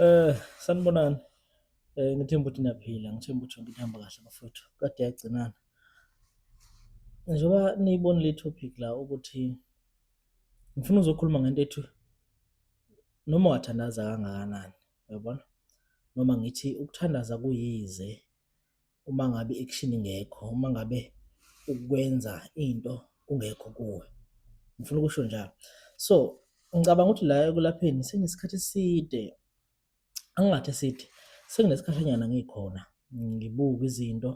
Eh sanibonani. Eh ngithemba ukuthi niyaphila, ngithemba ukuthi yonke ihamba kahle bafowethu. Kade yagcinana. Njengoba niyibonile i-topic la ukuthi ngifuna uzokhuluma ngento ethi noma wathandaza kangakanani, uyabona? Noma ngithi ukuthandaza kuyize uma ngabe i-action ingekho, uma ngabe ukwenza into kungekho kuwe. Ngifuna ukusho njalo. So, ngicabanga ukuthi la ekulapheni sengisikhathi eside, angingathi eside, senginesikhashanyana ngikhona, ngibuka izinto,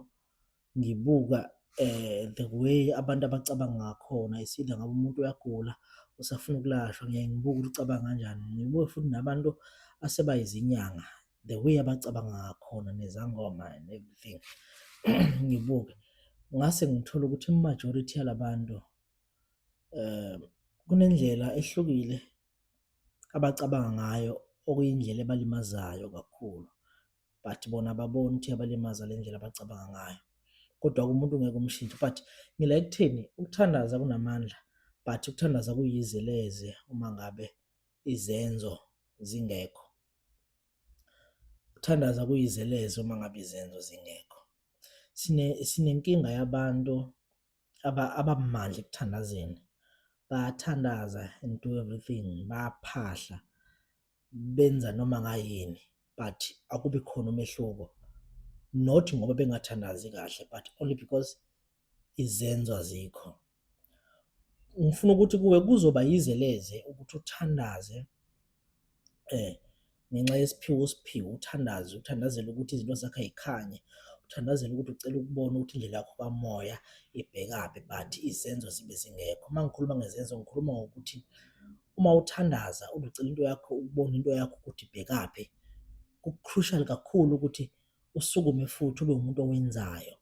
ngibuka eh the way abantu abacabanga ngakhona isida ngabe umuntu uyagula usafuna ukulashwa ngiyaye ngibuke ukuthi ucabanga kanjani ngibuke futhi nabantu asebayizinyanga the way abacabanga ngakhona nezangoma and everything ngibuke ngase ngithola ukuthi imajority yalabantu eh kunendlela ehlukile abacabanga ngayo okuyindlela ebalimazayo kakhulu but bona babona ukuthi abalimaza le ndlela abacabanga ngayo kodwa kumuntu ngeke umshintshe but ngila ekutheni ukuthandaza kunamandla but ukuthandaza kuyizeleze uma ngabe izenzo zingekho ukuthandaza kuyizelezo uma ngabe izenzo zingekho sine sinenkinga yabantu abamandla ekuthandazeni bathandaza and do everything baphahla benza noma ngayini but akubi khona umehluko not ngoba bengathandazi kahle but only because izenzo azikho ngifuna ukuthi kuwe kuzoba yize leze ukuthi uthandaze eh ngenxa yesiphiwo usiphiwo uthandaze uthandazele ukuthi izinto zakhe ayikhanye uthandazele ukuthi ucela ukubona ukuthi indlela yakho kamoya ibhekaphi but izenzo zibe zingekho uma ngikhuluma ngezenzo ngikhuluma ngokuthi uma uthandaza uducela into yakho ukubona into yakho ukuthi ibhekaphi ku-crucial kakhulu ukuthi usukume futhi ube umuntu owenzayo.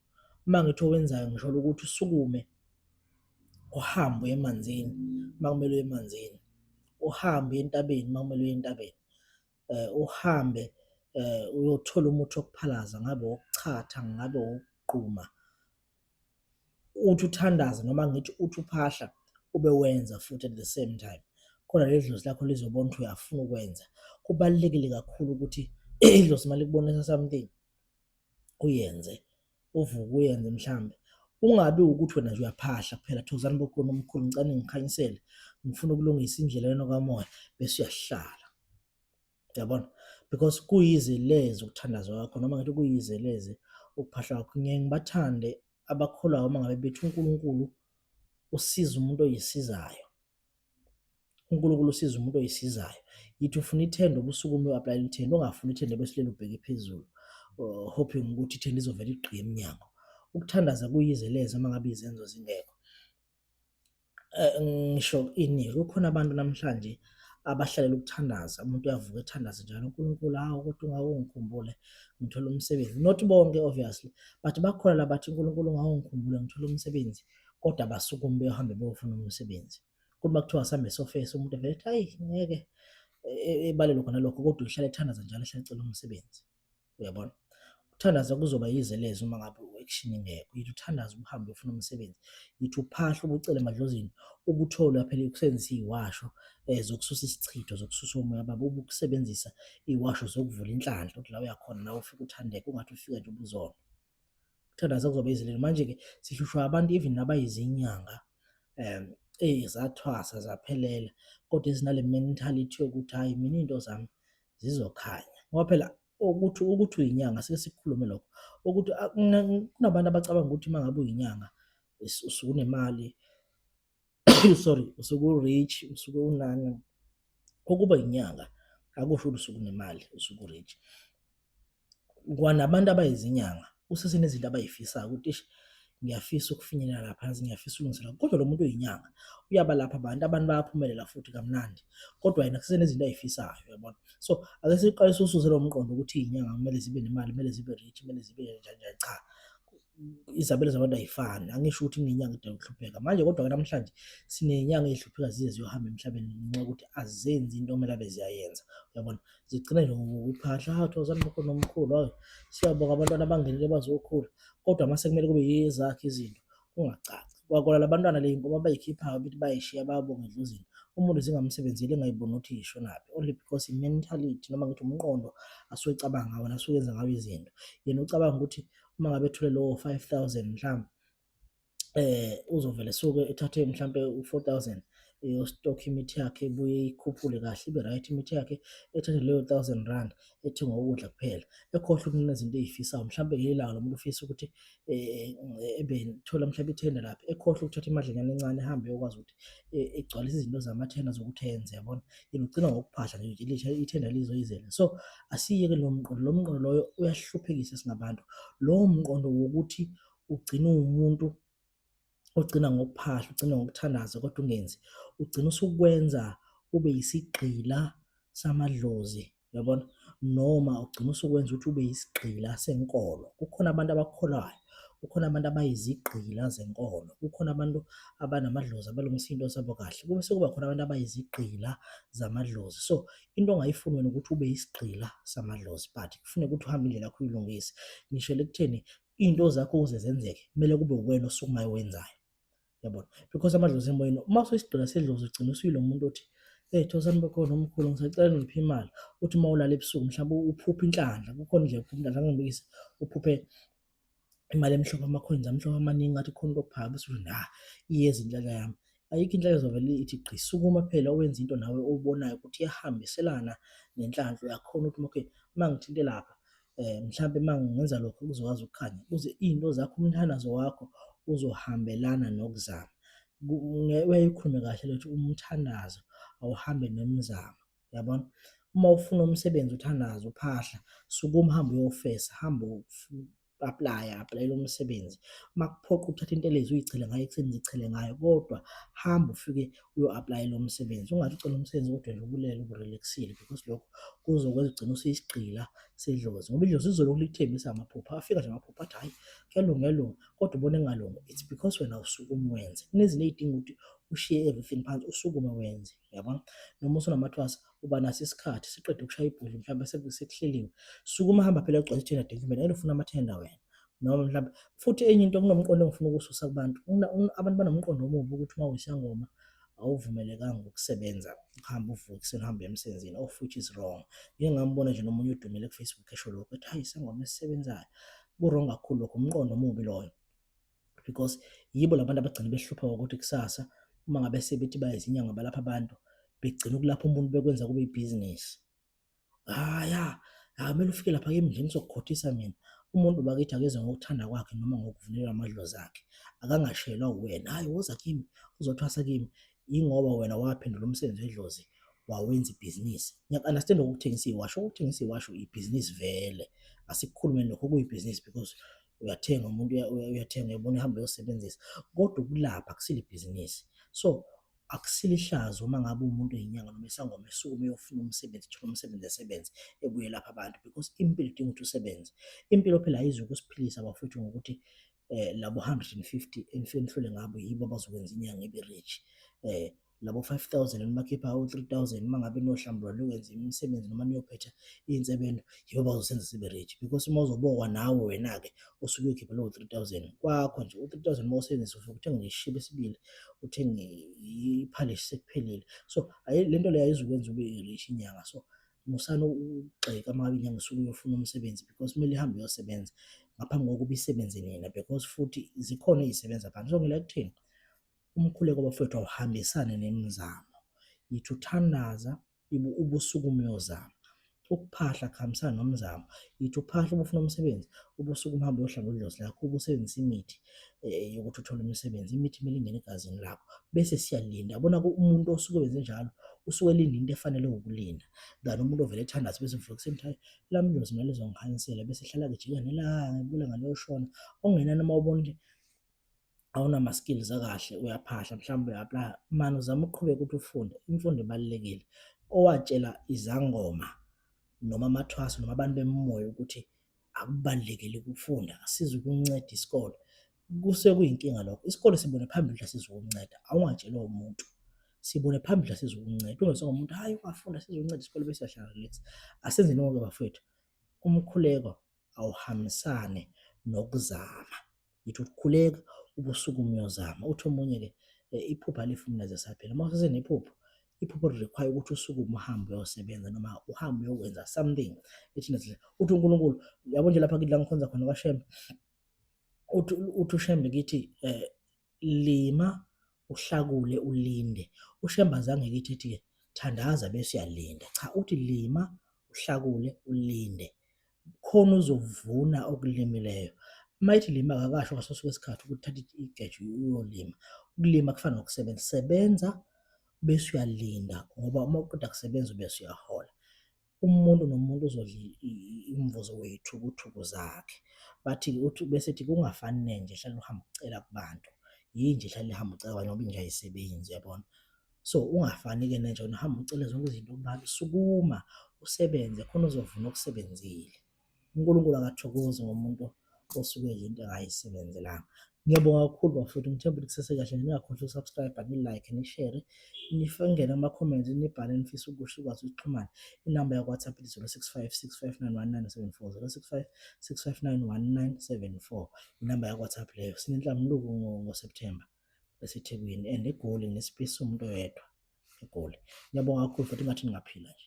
Uma ngithi owenzayo ngisholo ukuthi usukume uhambe uye emanzini uma kumele uye emanzini, uhambe uye entabeni uma kumele uye entabeni, eh, uhambe eh, uyothola umuthi wokuphalaza ngabe wokuchatha ngabe wokugquma uthi uthandaze noma ngithi uthi uphahla ube wenza futhi at the same time khona leli dlozi lakho lizobona ukuthi uyafuna ukwenza kubalulekile kakhulu ukuthi idlozi uma likubonisa something uyenze uvuke uyenze mhlambe ungabi ukuthi wena nje uyaphahla kuphela thozani bokhona omkhulu ngicane ngikhanyisele ngifuna ukulungisa indlela yona kamoya bese uyahlala yabona because kuyizelezi ukuthandaza kwakho noma ngathi kuyizelezi ukuphahla kwakho ngeke ngibathande abakholwayo uma ngabe bethi uNkulunkulu usiza umuntu oyisizayo uNkulunkulu usiza umuntu oyisizayo yithi ufuna ithende ubusuku uma uapply ithende ongafuni ithende besilele ubheke phezulu uh, hoping ukuthi ithende izovela igqiye emnyango ukuthandaza kuyizeleze uma ngabe izenzo zingekho eh, ngisho ini kukhona abantu namhlanje abahlalela ukuthandaza umuntu uyavuka ethandaze njalo uNkulunkulu hawu kodwa ungawungikhumbule ngithola umsebenzi not bonke obviously but bakhona labathi uNkulunkulu ungawungikhumbule ngithola umsebenzi kodwa basukume beyohambe beyofuna umsebenzi kuthi makuthiwa sambe sofesi umuntu evele ethi hayi ngeke e, e, ebalelwe khona lokho kodwa uhlale ethandaza njalo ehlale ecela umsebenzi uyabona ukuthandaza kuzoba yize lezi uma ngabe u-action ingekho yithi uthandaza ubuhambe ufuna umsebenzi yithi uphahla ubucele emadlozini ukutholwa phela ukusebenzisa iwasho um zokususa isichitho zokususa umoya baba ube ukusebenzisa iwasho zokuvula inhlanhla ukuthi la uyakhona nawe ufike uthandeke ungathi ufika nje ubuzona ukuthandaza kuzoba yize leli manje-ke sihlushwa abantu even nabayizinyanga um eyi zathwasa zaphelela kodwa ezinale mentality yokuthi hhayi mina iy'nto zami zizokhanya ngoba phela ukuthi ukuthi uyinyanga sike sikhulume lokho ukuthi kunabantu abacabanga ukuthi uma ngabe uyinyanga usukunemali sorry usuku rich usuku unani ukuba inyanga akusho ukuthi usukunemali usuku rich kwanabantu abayizinyanga usesenezinto abayifisayo ukuthi ish ngiyafisa ukufinyelela lapha yazi ngiyafisa ulungiselela kodwa lo muntu oyinyanga uyaba lapha abantu abantu bayaphumelela futhi kamnandi kodwa yena kusenezinto ayifisayo yabona so ake siqalise ususe lo mqondo ukuthi iyinyanga kumele zibe nemali kumele zibe rich kumele zibe njani njani cha izabelo zabantu ayifani angisho ukuthi ngenyanga idala ukuhlupheka manje kodwa ke namhlanje sinenyanga ezihlupheka zize ziyohamba emhlabeni ngenxa yokuthi azenzi into omele abe ziyayenza uyabona zigcina nje ngokuphahla hawu thozani mkhulu nomkhulu hawu siyabonga abantwana abangenile bazokhula kodwa mase kumele kube yezakhe izinto kungacaci kwakona labantwana le nkomo abayikhiphayo ukuthi bayishiya bayabonga edlozini umuntu zingamsebenzeli engayiboni ukuthi yishonaphi only because i-mentality noma ngithi umqondo asuke ecabanga ngawo nasuke enza ngawo izinto yena ucabanga ukuthi uma ngabe ethule lowo 5000 mhlawumbe eh uzovele suke ethathe mhlambe u4000 eyostock imithi yakhe ibuye ikhuphule kahle ibe right imithi yakhe ethathe leyo 1000 rand ethenga ukudla kuphela ekhohle ukunina izinto ezifisayo mhlambe ngelawo lomuntu ufisa ukuthi eh, ebe thola mhlambe ithenda lapha ekhohle ukuthatha imadlanyana encane ehambe yokwazi ukuthi e, egcwalisa izinto zamathenda zokuthi ayenze yabona ilugcina ngokuphahla nje ilisha ithenda lizoyizela so asiyeke lo mqondo lo mqondo loyo uyahluphekisa singabantu lowo mqondo wokuthi ugcina umuntu ogcina ngokuphahla ugcina ngokuthandaza kodwa ungenzi ugcina usukwenza ube yisigqila samadlozi Uyabona? Noma ugcina usukwenza ukuthi ube yisigqila senkolo. Kukhona abantu abakholwayo, kukhona abantu abayizigqila zenkolo, kukhona abantu abanamadlozi abalungisa into zabo kahle, kube sekuba khona abantu abayizigqila zamadlozi. So into ongayifuni wena ukuthi ube yisigqila samadlozi but kufuneka ukuthi uhambe indlela yakho uyilungise. Ngishele ekutheni into zakho ukuze zenzeke kumele kube uwena osukumayo owenzayo. yabona because amadlozi emoyeni uma usesidona sedlozi ugcina usuyilo muntu othi hey thosani bakhona omkhulu ngisacela ngiphi imali uthi uma ulala ebusuku mhlawumbe uphuphe inhlanhla kukhona nje uphuphe inhlanhla ngibikise uphuphe imali emhlophe amakhwenzi amhlophe amaningi ngathi khona into okuphakaba usuthi na iyeza inhlaka yami ayikho inhlaka ezovele ithi gqi sukuma phela owenza into nawe obonayo ukuthi iyahambiselana nenhlanhla uyakhona ukuthi okay uma ngithinte lapha eh mhlambe mangenza lokho kuzokwazi ukukhanya uze izinto zakho umthandazo wakho uzohambelana nokuzama uyayikhulume kahle lokuthi umthandazo awuhambe nomzamo yabona uma ufuna umsebenzi uthandaza uphahla sukuma hambe uyofesa hambe apply applyela umsebenzi uma kuphoqa ukuthatha into elezi uyichele ngayo ekuseni zichele ngayo kodwa hamba ufike uyo-aplayela umsebenzi ungathi ucela umsebenzi kodwa nje ubulele uburelaxile because lokho kuzokwenza ugcina useyisigqila sedlozi ngoba idlozi izolokhu likuthembisa amaphupha afika nje amaphupha athi hhayi kuyalunga kuyalunga kodwa ubona engalunga it's because wena usukume wenze kunezinto ey'dinga ukuthi ushiye everything phansi usukume wenze yabona noma usunamathwasa uba naso isikhathi siqede ukushaya ibhodli mhlawumbe sekuhleliwe sukuma hamba phela ugcwalise ithenda document ayilufuna amathenda wena noma mhlawumbe futhi enye into kunomqondo engifuna ukususa kubantu abantu banomqondo omubi ukuthi uma uyisangoma awuvumelekanga ukusebenza uhambe uvuke ekuseni uhambe emsebenzini of which is wrong ngike ngambona nje nomunye udumile kufacebook esho lokho ethi hayi isangoma esisebenzayo kurong kakhulu lokho umqondo omubi loyo because yibo labantu abagcina behlupha ukuthi kusasa uma ngabe sebethi bayizinyanga balapha abantu begcina ukulapha umuntu bekwenza kube ibhizinisi Ah ya, akumele ufike lapha kimi nje ngizokukhothisa mina. Umuntu bakithi akezwe ngokuthanda kwakhe noma ngokuvulela amadlozi akhe. Akangashelwa uwena. Hhayi woza kimi, uzothwasa kimi. Yingoba wena waphendula umsebenzi wedlozi wawenza ibhizinisi. Ngiyaku-understand ukuthengisa iwasho. Ukuthengisa iwasho ibhizinisi vele. Asikukhulumeni lokho kuyibhizinisi because uyathenga umuntu uya- uya- uyathenga uyabona ehamba uyosebenzisa. Kodwa ukulapha akusilo ibhizinisi. So akusilihlazo uma ngabe umuntu oyinyanga noma isangoma esukume eyofuna umsebenzi thola umsebenzi esebenze ebuye lapha abantu because impilo idinga ukuthi usebenze impilo phela ayizwe ukusiphilisa bafowethu ngokuthi eh labo 150 enihlole ngabo yibo abazokwenza inyanga ibe rich eh labo 5000 enibakhipha u 3000 uma ngabe nohlambulwa lokwenza imisebenzi noma niyophetha insebendo yibo abazosenza sibe rich because uma uzobokwa nawe wena ke usuke uyikhipha lowo 3000 kwakho nje u-3000 uma usebenzisa ufike uthenge nje isishibi esibili uthenge iphalishi sekuphelile so le nto leyo ayizukwenza ube rich inyanga so musana ukugxeka uma ngabe inyanga isuke uyofuna umsebenzi because kumele ihambe uyosebenza ngaphambi kokuba isebenze nina because futhi zikhona ezisebenza phansi so ngila kuthini umkhuleko bafowethu awuhambisane nemizamo yithi uthandaza ubusuku umyozama ukuphahla kuhambisana nomzamo yithi uphahla ubufuna umsebenzi ubusuku uhambe uyohlaba udlozi lakho ubusebenzisa imithi eh, yokuthi uthole umsebenzi imithi kumele ingene egazini lakho bese siyalinda yabona umuntu osuke wenze njalo usuke elinda into efanele ukulinda than umuntu ovele ethandaza bese mfuna kuseni ukuthi lami dlozi mina lizongikhanyisela bese hlala kujika nelanga ibula ngaleyoshona ongenani uma ubona ukuthi awunama skills akahle uyaphahla mhlawumbe uya-aplya mani uzama ukuqhubeka ukuthi ufunde imfundo ibalulekile owatshela izangoma noma amathwaso noma abantu bemoya ukuthi akubalulekile ukufunda asize ukunceda isikole kusuke kuyinkinga lokho isikole sibone phambili asize ukunceda awungatshelwa umuntu sibone phambili asize ukunceda ungesonga umuntu hayi ungafunda asize ukunceda isikole bese yahlala relax asenzeni ngoke bafowethu umkhuleko awuhambisane nokuzama Yithi ukukhuleka ubusuku umyozama uthi omunye ke eh, iphupha lifumneze saphela uma usesenephupho iphupho require ukuthi usuke uhambe uyosebenza noma uhambe uyokwenza something ethi nje uthi uNkulunkulu yabo nje lapha kidla ngikhonza khona kwaShembe uthi uthi uShembe kithi eh lima uhlakule ulinde uShembe azange kithi ethi thandaza bese uyalinda cha uthi lima uhlakule ulinde khona uzovuna okulimileyo uma ithi lima akakasho ngaso sonke isikhathi ukuthi thatha igeja uyolima ukulima kufana nokusebenza sebenza bese uyalinda ngoba uma uqeda kusebenza ubese uyahola umuntu nomuntu uzodla imvuzo weyithukuthuku zakhe bathi uthi bese ethi kungafani nenje hlala uhamba ucela kubantu yinje hlala ihamba ucela abanye ngoba inje ayisebenzi uyabona So ungafani-ke nenja wena uhamba ucele zonke izinto kubantu, sukuma usebenze khona uzovuna okusebenzile. UNkulunkulu akathokozi ngomuntu osuke yinto engayisebenzelanga. Ngiyabonga kakhulu bafowethu, ngithemba ukuthi kusesekahle. Ningakhohlwa ukusubscribe, ni-like, nishere, nifingele ama-comments, nibhale nifisa ukusho ukwazi ukuxhumana. Inamba yakwa-WhatsApp ithi 065 659 1974 065 659 1974. Inamba yakwa-WhatsApp leyo. Sinenhlambuluko ngo-September. eseThekwini and eGoli nesipace somuntu oyedwa eGoli. Ngiyabonga kakhulu futhi ingathi ningaphila nje.